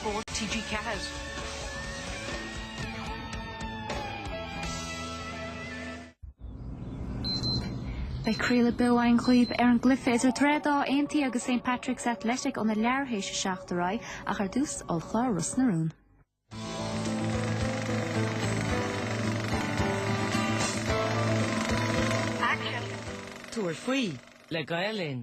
Spórt TG4. Beidh craoladh beo anocht ar an gcluiche idir Droichead Átha Aontaí agus St Patrick's Athletic óna leathuair théis a seacht ar aghaidh ach ar dtús ollchlár Ros na Rún. Tabhair faoi le Gael Linn.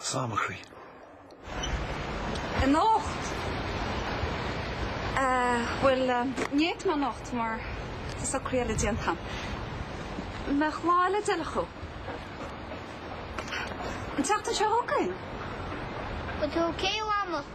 samachraí. anocht. Eh, bhuel, ní fhéadfaidh mé anocht mar tá socraí eile déanta agam. mbeadh lá eile b'fheiliúnach. an tseachtain seo chugainn. Go dtuga Dia slán amach.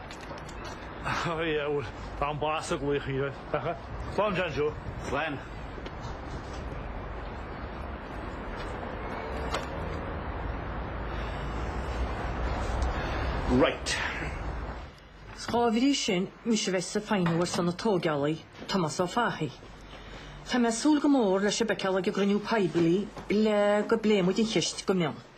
Ó yeah bhuel tá an bás ag laoch Uí Fheargha. Slán John Joe. Slán. Right. Is dá bhrí sin mise bheith ag feidhmiú ar son na tógálaí, Tomás Ó Fathaigh. Tá mé ag súil go mór le sibh a fheiceáil ag cruinniú poiblí le go bpléifidh muid an cheist go mion.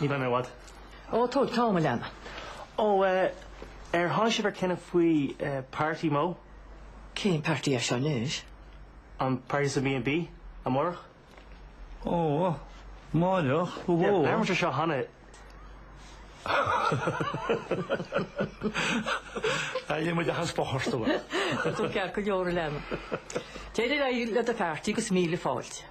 Ní bheidh mé i bhfad. Ó, tóg t'am, a leana. Ó, eh, ar tháinig sibh ar cinneadh faoi, eh, party Mo? Cén party é seo anois? An party sa B&B amárach. Ó, amárach? Ó. Yeah, labhair muid air seo cheana. Tá Liam ag iarraidh spás a thabhairt dom. Tá tú ceart go leor, a leana. Téigh ar aghaidh le do pheartaí agus míle fáilte.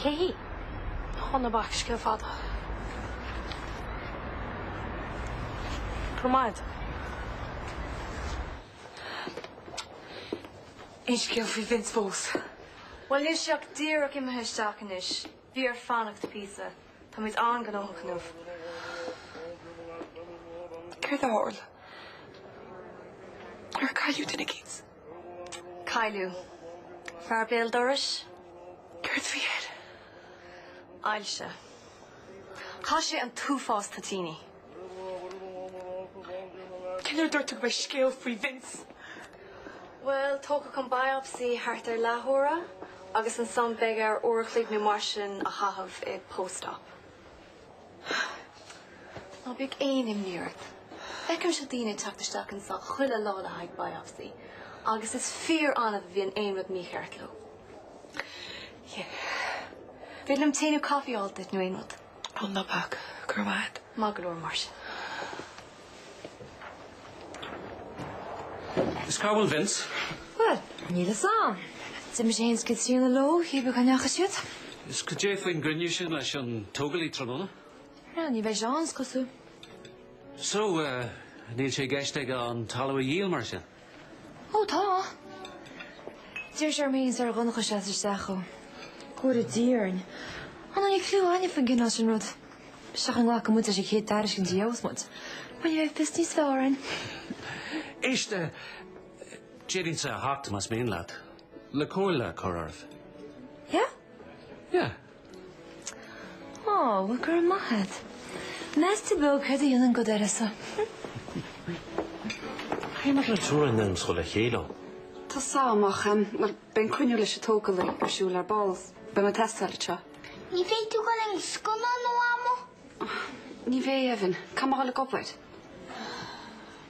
Cé hí? Á ná bac scéal fada. Go raibh maith agat. Aon scéal faoi Vince fós? Bhuel níl sé ach díreach imithe isteach anois. Bhí air fanacht píosa. Táimid an-gnóthach inniu. Céard a tharla? Ar cailleadh duine éicint? Cailleadh. Fear béal dorais. Céard bhí air? Ailse. Chaith sé an t-uafás toitíní. Cén uair a dúirt tú go mbeidh scéal faoi Vince? Bhuel, tógfaidh an biopsy thart ar leathuair agus ansan beidh air uair a chloig nó mar sin a chaitheamh i post-op. Ná bíodh aon imní ort. Feicimse daoine ag teacht isteach anso chuile lá le haghaidh biopsy agus is fíor-annamh a bhíonn aon rud mícheart leo. Sea. An féidir liom tae nó caife a fháil duit nó aon rud. Ó ná bac. Go raibh maith agat. Maith go leor, mar sin. Is cá bhfuil Vince? Bhuel, níl fhios a'm. D'imigh sé fhéin is Caitríona leo, cibé cá ndeachaigh siad. Is goidé faoin gcruinniú sin leis an tógálaí tráthnóna. Bhuel, ní bheidh sé ann is cosúil. So, níl sé i gceist aige an talamh a dhíol mar sin? Ó tá. D'iarr sé orm fhéin is ar Dhonncha seasamh isteach dó. Cuir i dTíarn. An bhfuil aon clú againne faoin gcineál sin rud? Seachain an nglacfaidh muid leis an chéad tairiscint a gheobhas muid. Muna mbeidh fios níos fearr againn. Éist, d'fhéadfainnse a theacht más mian leat le comhairle a chur oraibh. Yeah? Yeah. Aww well go raibh maith agat. Meas tú beag céard a dhéanann go deireadh so. Cé maidir le turas na naíscoile le chéile ann? Tá so amach ann. Bhuel, beidh an cruinniú leis an tógálaí ar siúl ar ball. Beidh mé ag teastáil anseo. Ní bheidh tú go dtinn scoile nó amuigh? Ní bheidh, Evan. Caithfidh mé a dhul ag obair?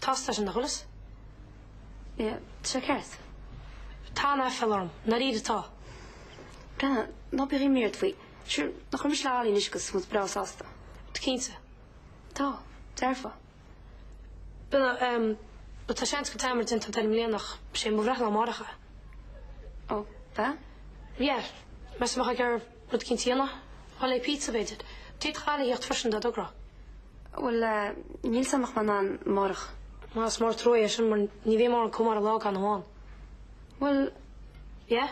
Tá seisean de sholas. Níl sé ceart. Tá aiféala orm. Nár fhíor atá? Brenna, Ná bíodh aon imní ort faoi. Sure, nach bhfuil mise le Hayley anois agus muid breá sásta. Tú cinnte? Tá. Déarfá. Brenna, Ehm, but tá seans go bhfuil dearmad déanta a'd air i mbliana ach sé mo bhreithlá amárach é. Ó, ab ea? Yeah, measaim a Thadhg ar. Rud cinntíona, bhuel é pizza b'fhéidir. D'fhéadfadh Hayley a thíocht freisin dá dtogródh. Bhuel eh, níl fhios a'm an mbeidh mé in ann amárach. Má is mór an trua é sin mar ní bheadh mórán cumara lá gan amháin. Bhuel. Yeah?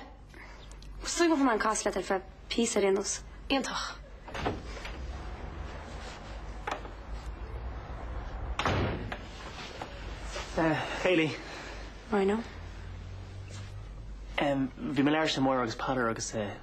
Is dóigh go mbeidh mé in ann castáil leat ar feadh píosa ar aon nós. Iontach. Eh, Hayley. Rhino. Em, bhí mé ag labhairt le Máire agus Peadar agus eh,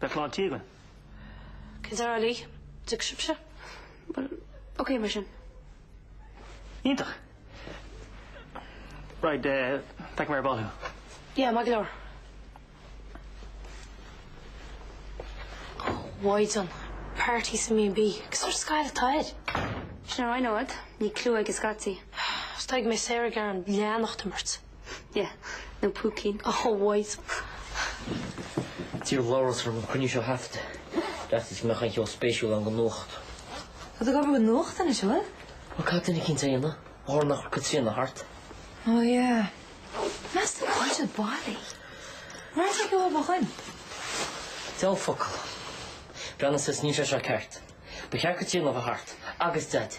Beidh lán tí. Cén deartháir leí? Tig sibhse? Bhuel, ok mar sin. Iontach! Right, feicfidh mé ar ball thú. Yeah, maith go leor. Mhaighdean, party sa mí an mhí. Cén sórt scoil atá air? Sin ar aghaidh nó fhad, níl clue aige scaití. Is tuigim é saor ag ar an leanacht imirt. Yeah, no púicín. A Chonaill. D'iarr Labhrás orm an cruinniú seo a thaifeadadh ar fhaitíos go mbeadh aon cheo spéisiúil ann don nuacht. Tá tú ag obair don nuacht anois, an bhfuil? Bhuel, caithfidh duine eicínt é a dhéanamh? Ó tharla nach raibh Caitríona thart? Oh yeah. Measaim go bhfuil siad bailithe. An raibh sé ag iomdha chugainn? Diabhal focal. Breandán says níl sé seo ceart. Ba cheart Caitríona a bheith thart. Agus Daid.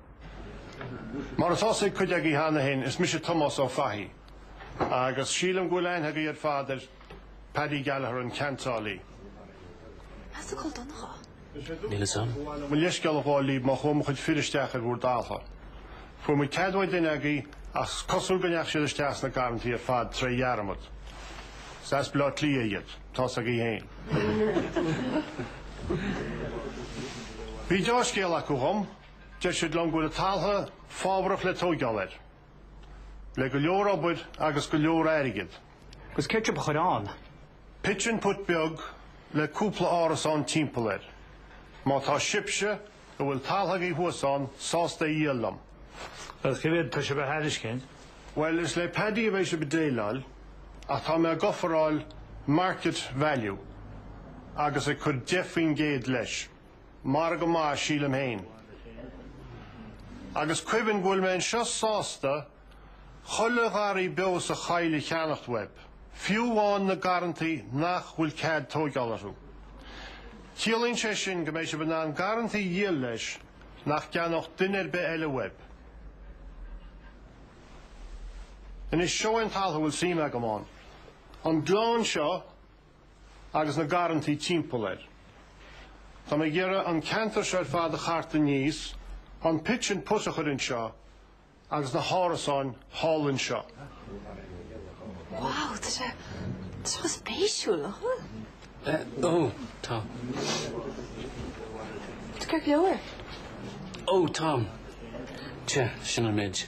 Mar atá sé ag cuid agaí cheana féin, is mise Tomás Ó Fathaí agus sílim go bhfuil aithne agaí ar fad ar Paddy Gallagher, an ceantálaí. Meas cá bhfuil Donncha? Níl fhios a'm. Mo leithscéal a Dhálaigh, má chuaigh mo chuid fir isteach ar bhur dtalha, fuair muid cead uaidh duine agaí ach 's cosúil go ndeach siad isteach sna garrantaí ar fad tré dhearmad. 'S as Bleá Cliath iad. Tá's agaí féin. Bhí deá-scéal acu dhom. Deir siad liom go bhfuil an taltha fábharach le tóigeáil air, le go leor obair agus go leor airgid. Agus céard atá sibh a chur ann? Pitch and putt beag le cúpla árasán timpeall air. Má tá sibhse, a bhfuil taltha agaibh thuas ann, sásta é dhíol liom. Agus cé mhéad tá sibh a thairiscint? Bhuel, is le Paddy a bheidh sibh ag déileáil, ach tá mé ag ofráil market value agus ag cur deich faoin gcéad leis. margadh maith sílim féin. Agus cuimhnigh go bhfuil mé anseo sásta chuile gharraí beo sa choill a cheannacht uaibh, fiú amháin na garrantaí nach bhfuil cead tóigeáil orthu. Ciallaíonn sé sin go mbeidh sibh in ann garrantaí a dhíol leis nach gceannódh duine ar bith eile uaibh. Anois seo é an taltha a bhfuil suim agam ann. An gleann seo agus na garrantaí timpeall air. Tá mé ag iarraidh an ceantar seo ar fad a chartadh aníos, an pitch and putt a chur anseo agus na hárasáin thall anseo. Wow, tá sé seo spéisiúil, nach bhfuil? Eh, ó, tá. Is crack leabhar. Ó, tá. Sea, sin an méid.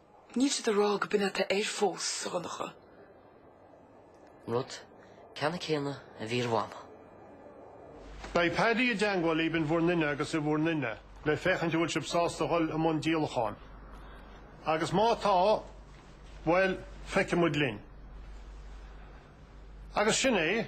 Níl siad ag rá go b'in atá air fós, a Dhonncha. Rud ceannann céanna a bhí ar Mhama. Beidh Paddy i dteangmháil libh in bhur nduine agus i bhur nduine le féachaint a bhfuil sib sásta dhul i mbun díolacháin. Agus má tá, bhuel, feicfimid linn. Agus sin é.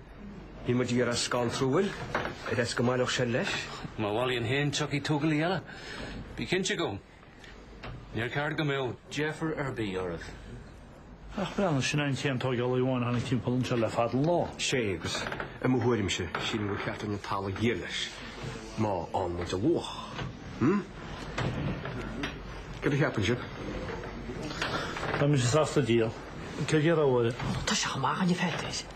Níl muid ag iarraidh é a scanrú, ar fhaitíos go mbaileodh sé leis. Má bhailíonn fhéin tiocfaidh tograí eile, bí cinnte dhe. Níor cheart go mbeadh deifir ar bith oraibh. Ach breathnaigh, sin é an t-aon tóigeálaí amháin a tháinig timpeall anseo le fada an lá. Sea, agus i mo thuairimse, sílim gur cheart dúinn an taltha a dhíol leis, má fhánann muid a luach. Hm? Cad a cheapann sibh? Tá mise sásta díol. Cad a rá uair? Tá sé amach an i bhfeictear.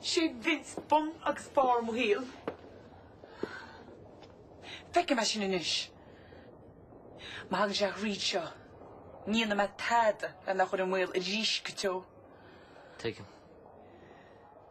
Sé Vince bun agus barr mo shaoil. Feicim é sin anois. Má thagann sé thríd seo, ní dhéanfaidh mé tada lena chur i mbaol arís go deo. Tuigim.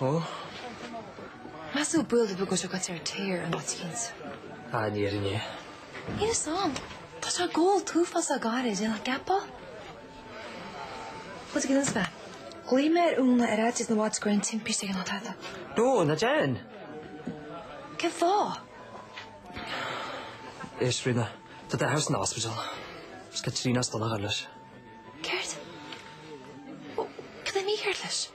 Ó. Measadh buail do bhagairt agat ar téir an oitigint. Ah, níor fhan é. Níl fhios a'm. Tá sé ag ól an t-uafás le gairid, déanfadh geapa. Rud éigin eile is ea, ghlaoigh mé ar Úna ar fhaitíos na bhfaitíos go raibh an timpiste ag an Átha Tata. Nó ná déan! Cén fáth? Éist, Ríona, tá d'athair san ospidéal. Is Caitríona is Donnchadh leis. Céard? Ó, cad é mícheart leis?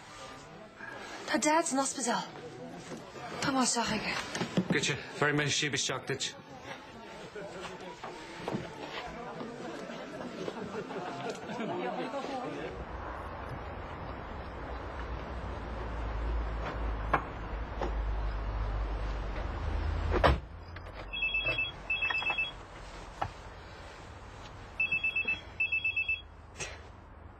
Tá Dad san ospideál. Tá má seach aige. Goite, bhar me si be seach dit.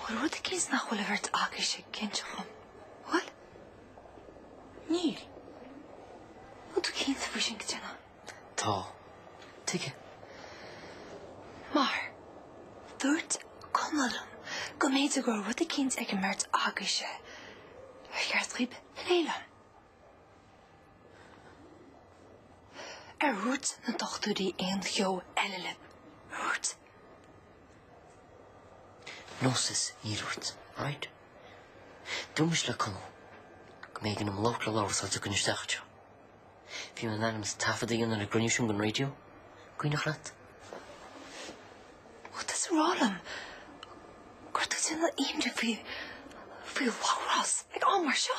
Bhfuil rud eicínt nach bhfuil an bheirt agaibhse ag inseacht dhom, bhfuil? Níl. Bhfuil tú cinnte faoi sin a Dhonncha? Tá. Tuige? Mar, dúirt Conall liom go mb'fhéidir go raibh rud eicínt ag an mbeirt agaibhse ar cheart dhaoibh a phlé liom. Ar dhúirt na dochtúirí aon cheo eile libh? Ar dhúirt? No sis, níor dhúirt. Right? Dúirt mise le Conall go mb'éigean dom labhairt le Labhrás áit a gcoinne isteach anseo. Bhí mé in ainm is taifead a dhéanamh ag an gcruinniú sin don raidió. Cuimhneach leat? Bhfuil tú ag rá liom go raibh tú ag déanamh imní faoi Labhrás ag am mar seo?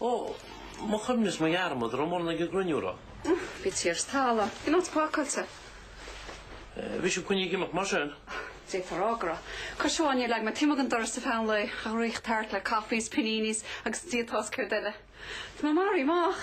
Ó, mo chuimhne is mo dhearmad, raibh mórán ag an gcruinniú, raibh. Bhí tír is talamh ann, an áit pacáilte. Bhí sibh coinnithe ag imeacht mar sin. D'fhéadfá a rá go raibh. Cois amháin níor leag mé taobh amuigh den doras ar feadh an lae ach ag rith thart le coffees, paninis agus ag Dia atá a fhios céard eile. Tá mé maraithe amach.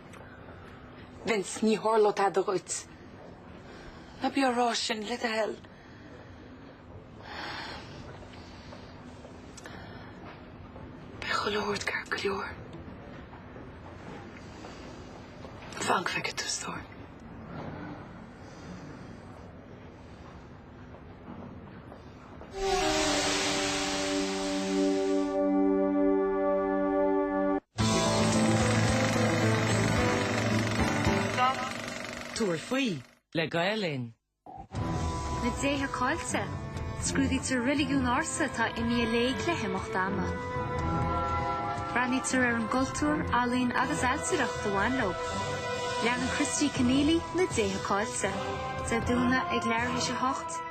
Vince, ní tharlóidh tada dhuit. Ná bí á rá sin, le do thoil. Beidh chuile shórt ceart go leor. Fan go bhfeice tú stór. Tabhair faoi le Gael Linn. Na Déithe Caillte, Scrúdaítear reiligiúin ársa atá imithe i léig le himeacht ama. Breathnaítear ar an gcultúr, ealaín agus ailtireacht a bhain leo. Leanann Christy Kenneally Na Déithe Caillte Dé Domhnaigh ag leathuair tar éis a 8,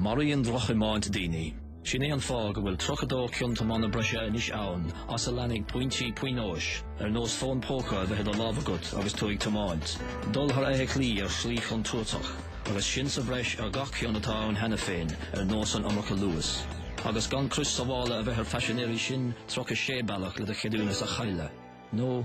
Maraíonn drochthiomáint daoine. Sin é an fáth go bhfuil 32 cion tiomána breise anois ann as a leanfaidh pointí pionóis, ar nós fón póca a bheith i do lámh agat agus tú ag tiomáint, dul thar fheithiclí ar shlí chontúirteach, agus sin sa bhreis ar gach cion atá ann cheana féin, ar nós an iomarca luais. Agus gan crios sábhála a bheith ar phaisinéirí, sin 36 bealach le do cheadúnas a chailleadh, nó,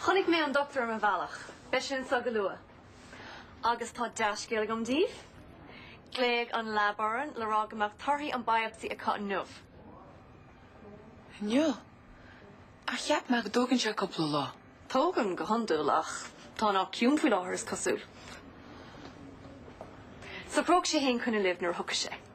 Chonaic mé an doctúir ar mo bhealach, beidh sé anseo go luath. Agus tá dea-scéal agam daoibh. Ghlaoigh an lab orainn le rá go mbeadh torthaí an biopsy acu inniu. Inniu? Ach cheap mé go dtógann sé cúpla lá. Tógann go hiondúil ach tá an áit ciúin faoi láthair is cosúil. Socróidh sé fhéin coinne libh nuair a thiocfaidh sé.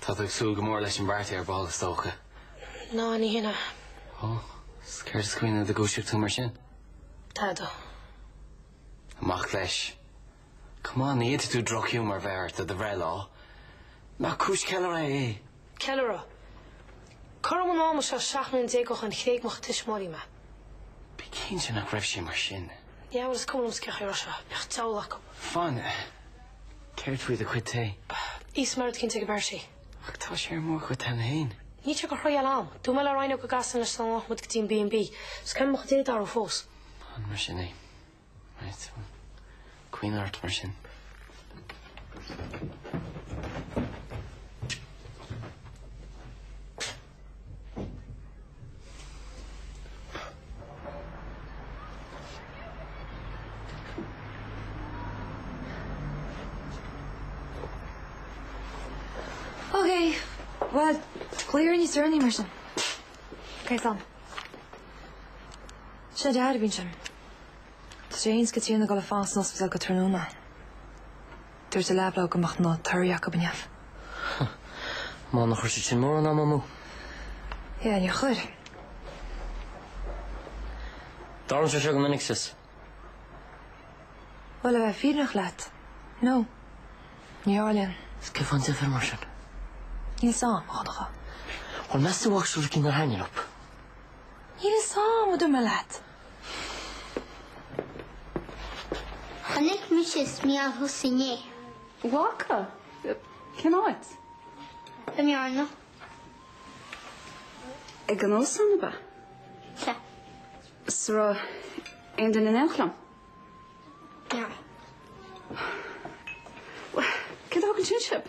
Tá tú ag súil go mór leis an bparty ar ball is dócha? Ná ní hionadh. Ó, 's céard a choinnigh i do dhúiseacht tú mar sin? Tada. Amach leis. Come on, ní fhéadfadh tú drochghiúmar a bheith ort do do bhreithlá. Nach cúis ceiliúrtha é? Ceiliúradh? Cothrom an ama seo seacht mbliana déag ó shin thréig mo thuismitheoirí mé. Bí cinnte nach raibh sé mar sin. Yeah bhuel is cuma liom sceach ar seo, bíodh an deabhal acu. Fine. Céard faoi do chuid tae? Is mairfidh cinnte go b'fhearr sí. Ach tá sé ar mo chuid tae féin. Níl sé go thriall ann. Dúinn mé le Ryan ó go gcasann leis dá nglac muid go dtí an B&B. Is ceann de mo chuid tae darú fós. An mar sin é. Right. Caoineadh ort mar sin. Ok, bhuel, glaoigh orm níos deireanaí mar sin. Ok slán. Sin é Daid a bhí ansin. Tá seans go trína dhul a fás san ospidéal go tráthnóna. Dúirt an lab leo go mbeadh na torthaí acu inniu. Bhuel níor chuir siad sin mórán ama amú. Yeah, níor chuir. Dtarlaíonn sé seo go minic, sis. Bhuel, le bheith fírinneach leat, no. Ní tharlaíonn. Is cén fáth an deifir mar sin? Níl 's am, a Dhonncha. Bhuel, meas tú actually cé nár tharraing an up? Níl 's am a dúirt mé leat. Chonaic mise is Niall thusa inné. Bhfaca? Cén áit? I mBearna. Ag an óstán ab ea? Sea. 'S an raibh aon duine in éineacht liom? Ní raibh. Cad a thug ansin sibh?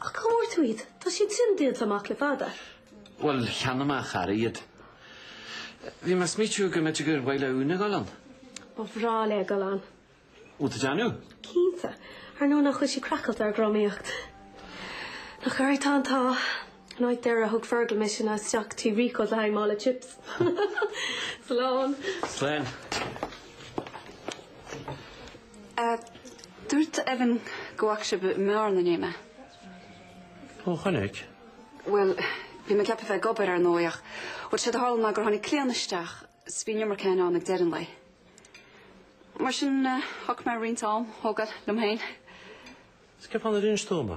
Ach cá bhfuair tú iad? Tá siad sin díolta amach le fada. Bhuel, cheannaigh mé a chara iad. Bhí mé ag smaoitiú go mb'fhéidir gur mhaith le Úna dul ann. Ba bhreá léi dul ann. An bhfuil tú ag déanamh? Cinnte. Ar ndóigh nach bhfuil sí craiceáilte ar dhrámaíocht. Nach uirthi atá an t-ádh. An áit deiridh a thug Fergal mise ná isteach go dtí Rico's le haghaidh mála chips. Slán. Slán. A, Dúirt Evan go bhfaca sé sibh i mBarr na Néime. Ó, chonaic. Bhuel, bhí mé ceaptha a bheith ag obair, ar ndóigh, ach bhuel, séard a tharla ná gur tháinig Caitríona isteach is bhí an iomarca againn ann ag deireadh an lae. Mar sin, eh, thug mé roinnt am, tógáil, dom féin. Is céard faoi Vince i dTuaim?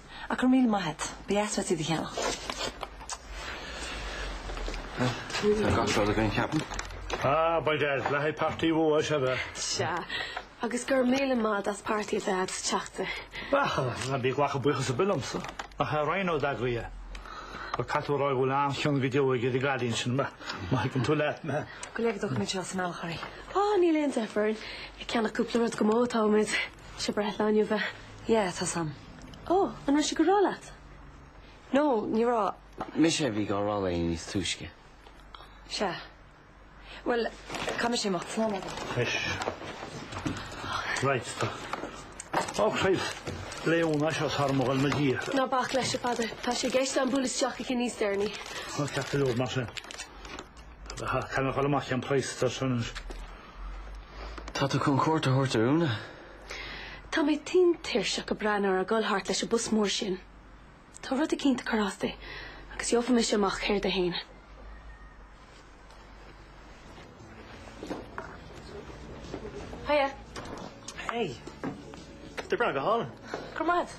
Ach go raibh míle maith agat. as ucht iad a cheannach. Tá gach rud againn, ceapaim. Ah, by Dad, le haghaidh páirtí, by dad, is ea. Sea, agus go raibh míle maith agat as páirtí a bheith agat sa Teachta. Á, ná bí ag glacadh buíochas ar bith liomsa, nach é Rhino a d'eagraigh é? Caithfidh tú a rá go bhfuil an-chion go deo aige, ar an gcailín sin, má thuigeann tú leat, mé. Gabh i leith, táimid seo sa mbealach orainn. Á, níl aon deifir orainn ag ceannach cúpla rud go díreach, atáimid. 'Sé a breithlá inniu é? Yeah, tá a fhios agam. Oh, an raibh sé dhá rá leat? No, ní raibh. Mise a bhí dhá rá léi níos túisce. Sea. Bhuel, caithfidh mise imeacht. Slán a Aodh. Anois. Right, tá. Ó Chrois! Léun, As seo thar mo ghoil mo Dhia. Ná bac leis, a Pheadair. Tá sé i gceist agam bualadh isteach aici níos deireanaí. Á, ceart go leor mar sin. Caithfidh mé dhul amach ceann praghas, dar sin. Tá tú chun cuairt a thabhairt ar Úna. Tá mé tinn tuirseach ag breathnú uirthi ag dul thart leis an bpus mór sin. Tá rud eicínt ag cur as di agus gheobhaidh mise amach céard é fhéin. Hiya. Hey. Tá breá go hálainn. Coimeád.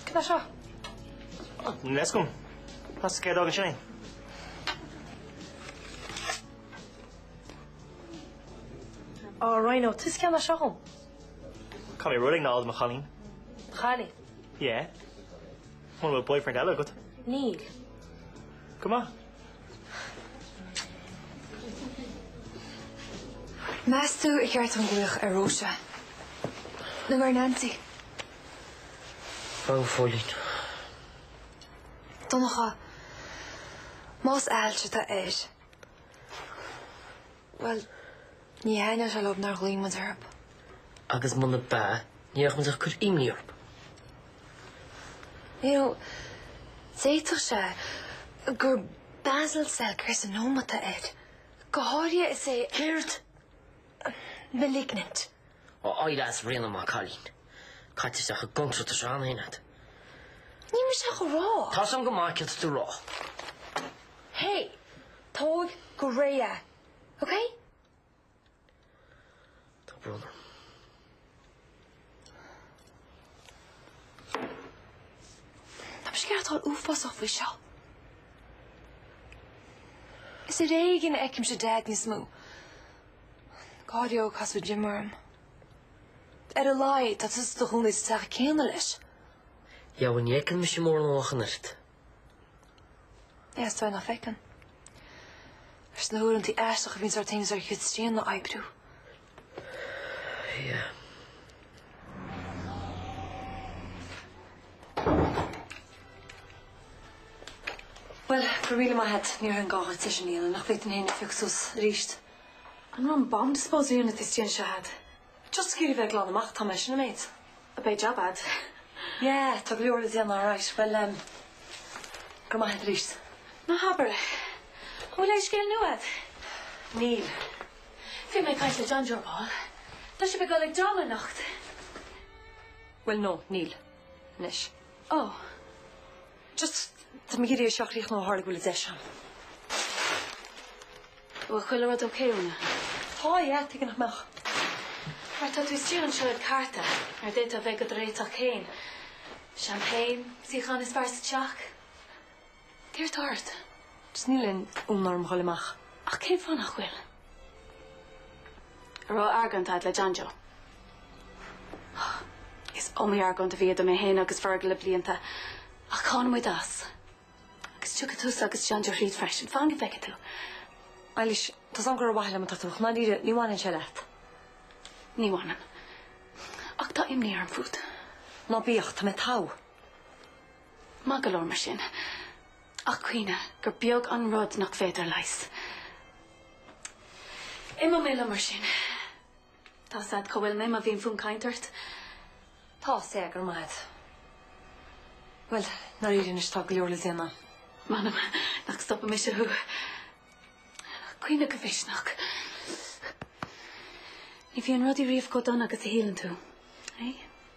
Cad é seo? An leiscún. Pasta céard a fhágann sin é? Ó, Rhino, tusa a cheannaigh seo dhom. Caithfidh mé rud eicínt a fháil do mo chailín? Do chailín? Yeah. Muna bhfuil boyfriend eile agat. Níl. Go maith. Meas tú ar cheart dom glaoch ar Róise? Nó ar Nancy? Bheadh an phóilín. Donncha, Más ailse atá air, bhuel, ní thaithneodh sé leob nár ghlaoigh muid orthub. Agus munab ea, ní bheadh muid ach cur imní orthub. You know, d'fhéadfadh sé gur basal cell carcinoma atá air. Go háirithe is é... Céard? Malignant. Ó Eilís. Ríona, maith an cailín. Caitear isteach i gcontrailt is rannhain at. Níl mise ach a rá. Tá a fhios a'm go maith céard atá tú a rá. Hé! Tóig go réidh é, okay? Tá brón orm. Tá mise ag aireachtáil uafásach faoi seo. Is ar éigean a fheicimse Daid níos mó. Cá'd fhiú casadh Jim orm? Ar a laghad tá tusa i do chónaí sa teach céanna leis. Dheamhan ní fheiceann mise mórán ach an oiread. Is dóigh nach bhfeiceann. Leis na huaireanta aisteacha a bhíonn sár taobh is ar chéad straon á oibriú. Yeah. Bhuel, go raibh míle maith a'd, ní raibh aon ghá dhuit leis an Fhianna nach bhféadfainn féin a phiocadh suas aríst. An raibh an bomb disposal unit istigh anseo a'd? Just ag iarraidh a bheith ag glanadh amach atá mé sin an méid. Á, beidh jab a'd. Yeah, tá go leor le déanamh alright. Bhuel em, go raibh maith a'd aríst. Ná habair é. An bhfuil aon scéal nua a'd? Níl. Bhí mé ag caint le John Joe ar ball. Tá sibh ag dul ag an dráma anocht. Bhuel no, níl. anois. Oh. Just tá mé ag iarraidh é seo a chríochnú tharla go bhfuil an deis ann. Bhfuil chuile rud ok, Úna? Tá, yeah, tuige nach mbeadh. Mar tá tú istigh anseo ag cartadh nuair a d'fhéadfá a bheith dhod réiteach féin. Champagne, suíochán is fearr sa teach. Céard tá ort? Just níl aon fhonn orm dhul amach. Ach cén fáth nach bhfuil? An raibh argóint a'd le John Joe? Is iomaí argóint a bhí idir mé féin agus Fergal le blianta ach tháinig muid as. Agus tiocfaidh tusa agus John Joe thríd freisin. Fan go bhfeice tú. Eilís, tá a fhios a'm gur ar mhaithe liom atá tú. Ach dáiríre, ní bhaineann sé leat. Ní bhaineann. Ach tá imní orm fút. Ná bíodh. Tá mé togha. Maith go leor mar sin. Ach cuimhnigh gur beag an rud nach féidir a leigheas. Imeoidh mé liom mar sin. Tá a fhios a'd cá bhfuil mé má bhíonn fonn cainte ort. Tá a fhios, go raibh maith a'd. Bhuel, dáiríre anois tá go leor le déanamh. M'anam nach stopfaidh mise thú. Coinnigh do mhisneach. Ní bhíonn rudaí riamh chomh dona agus a shíleann tú, é?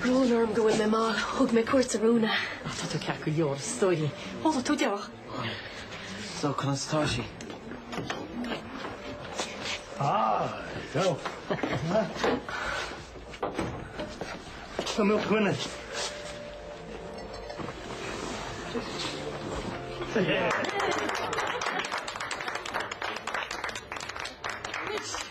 Brón orm go bhfuil mé mall. Thug mé cuairt ar Úna. Ach tá tú ceart go leor, is dóigh. Tháinig tú deoch. So, conas atá sí? Ah, so. Tá mé dhuine. Yeah.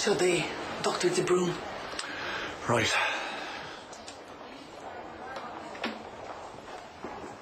Siod é Doctor de Brún. Right.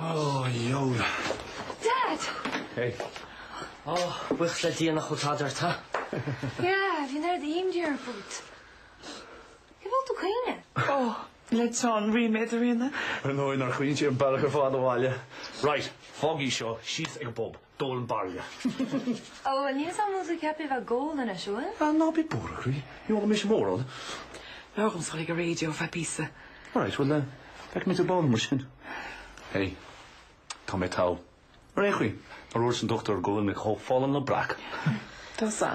Oy yoy. Dad! Hey. Ó, buíochas le Dia nach bhfuil tada ort, ha? Yeah, bhí an aird aoim di ar an bhfód. Tuige bhfuil tú ag caoineadh? Ó, le teann ríméad, a Ríona. Ar ndóigh nár chaoin sé an bealach ar fad abhaile. Right, fág í seo síos ag an bpub. Dólan baile. Ó, níl san músaem ceaptha a bheith ag ól anois, bhfuil? Ah, ná bí buartha, a chroí. Ní ólfaidh mise mórán. Labhair dhom sula ag an raidió, ar feadh píosa. Alright, bhuel, feicfidh mé thú ar ball mar sin. Hey, tá mé togha. Ar aon chaoi, nár dhúirt an dochtúir go bhfuil mé chomh folláin le breac. Tusa.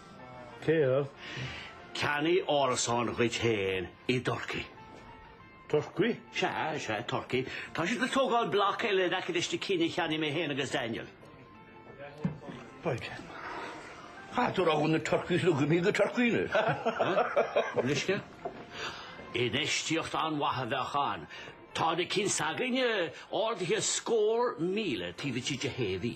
Téamh. Ceannaigh árasán dhuit féin i dTurcaí. Turcaí? Sea, sea, Turcaí. Tá siad ag tógáil bloc eile in aice leis na cinn a cheannaigh mé féin agus Daniel. B'fhéidir. Cha dtug rogha na Turcaí is luigfidh mé go Turcaí anois. An uisce? Infheistíocht an-mhaith a bheadh ann. Tá na cinn s'againne ardaithe scór míle taobh istigh de shé mhí.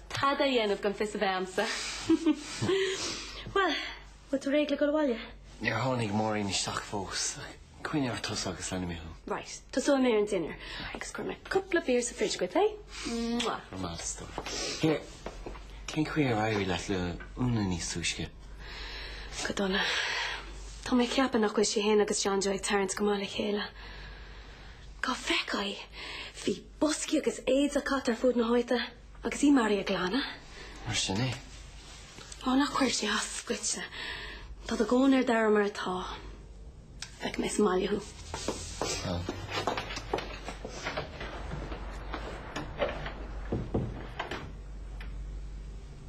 Tada a dhéanamh gan fios a bheith a'msa. Bhuel, bhfuil tú réidh le dul abhaile? Níor tháinig Máirín isteach fós. Coinnigh ort tusa agus leanfaidh mé thú. Right, tosóidh mé ar an dinnéar agus cuirfidh mé cúpla beer sa fridge agaibh, eh? Mwah. Go raibh maith agat. Here, cén chaoi ar éirigh leat le Úna níos túisce? Go dona. Tá mé ag ceapadh nach bhfuil sí fhéin agus John Joe ag tarraingt go maith le chéile. Dhá bhfeicfeá í? Bhí boscaí agus éadaí caite thart ar fuaid na háite. Agus í mar dhea ag glanadh? Mar sin é. Ó, ná cuireadh sé as dhuitse. Tá do dhóthain ar d'aire mar atá. Feicfidh mé sa mbaile thú. Bhuel.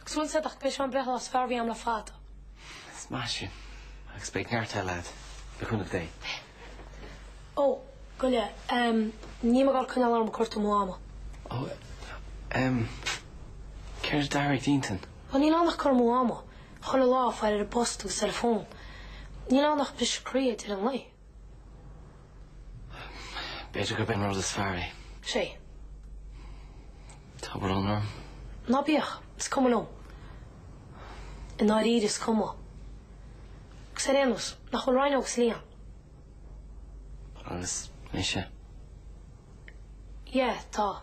Agus bhfuil a fhios a'd ach ba é seo an breithlá is fearr a bhí a'm le fada. Ach is maith sin. Agus beidh neart eile a'd, le cúnamh Dé. Ó, go leor. Em, níl mé ag goil ag coinneáil orm ag cuartú mo Mhama. Ó, em, céard a d'athraigh d'intinn? Ó, níl ann ach cur amú ama chuile lá ag faire ar an bpost agus ar an bhfón. Níl ann ach briseadh croí ag deireadh an lae. B'fhéidir gurb é an rud is fearr é. Sé. Tá brón orm. Ná bíodh. Is cuma liom. I ndáiríre is cuma. Agus ar aon nós, nach bhfuil Ryan agus Liam? Agus mise. Yeah, tá.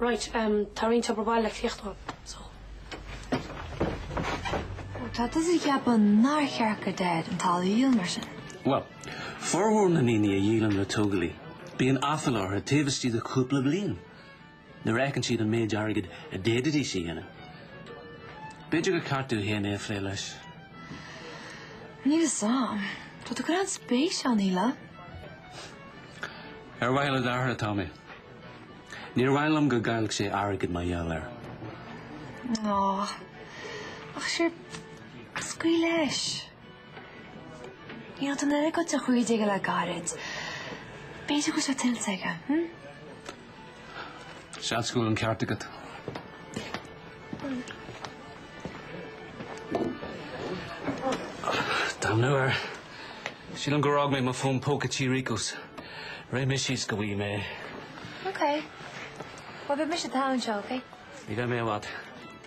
Right umm tá roinnt obair mhaith le críochnú agam so. Ó tá tusa ag ceapadh nár cheart do Dhaid an áit a dhíol mar sin. Bhuel, formhór na ndaoine a dhíolann le tógálaithe bíonn aiféala orthu taobh istigh de chúpla bliain nuair a fheiceann siad an méid airgid a d'fhéadfaidís a dhéanamh. B'fhéidir gur ceart duit féin é a phlé leis. Níl 'fhios a'm. Tá tú ag cur an-spéis ann, Íola. Ar mhaithe le d'athair atá mé. Níor mhaith liom go gcaillfeadh sé airgead mar gheall air. Ná. Ach sure, scaoil leis. Níl an oiread sin tada cloiste aige le gairid. B'fhéidir go raibh sé tuillte aige, hm? Seans go bhfuil an ceart agat. Damnú air. Sílim gur fhág mé mo fón póca Tí Ríocas. Rithfidh mé síos go bhfaighidh mé é. Ok. Beidh mise togha anseo, ok? Ní bheidh mé i bhfad.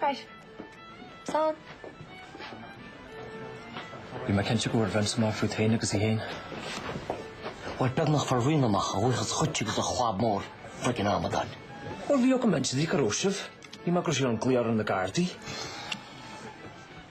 Right. Slán. Bhí mé cinnte go bhfuair Berni amach fút féin agus í féin. Bhuel, beagnach fuair Berni amach a bhuíochas dhuit agus do chab mór chuig an amadán. Bhuel, bhí orm insint di, cá raibh sibh. Bhí mé ag cur siar an ghlaoch ar na Gardaí.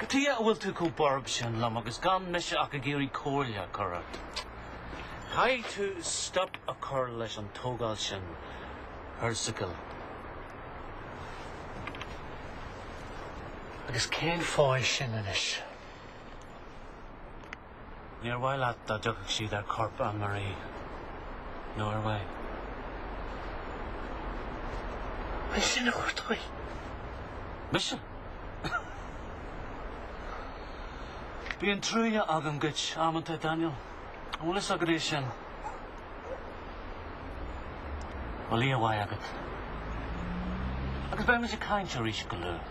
Cén tuige a bhfuil tú chomh borb sin liom agus gan mise ach ag iarraidh comhairle a chur ort. Caithfidh tú stop a chur leis an tógáil sin thíos sa gcoill. Agus cén fáth é sin anois? Níor mhaith leat dá dtiocfadh siad ar chorp Anne-Marie, nó ar mhaith? Bhuel, sin é an áit a chuir tú í. Mise? Bíonn trua agam dhuit amanta Daniel. An bhfuil is agad é sin? Bhuel, oíche mhaith agat? Agus beidh muid ag caint arís go luath.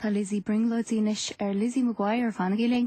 Tá Lizzie ag brionglóidí anois ar Lizzie McGuire, fanaigí linn!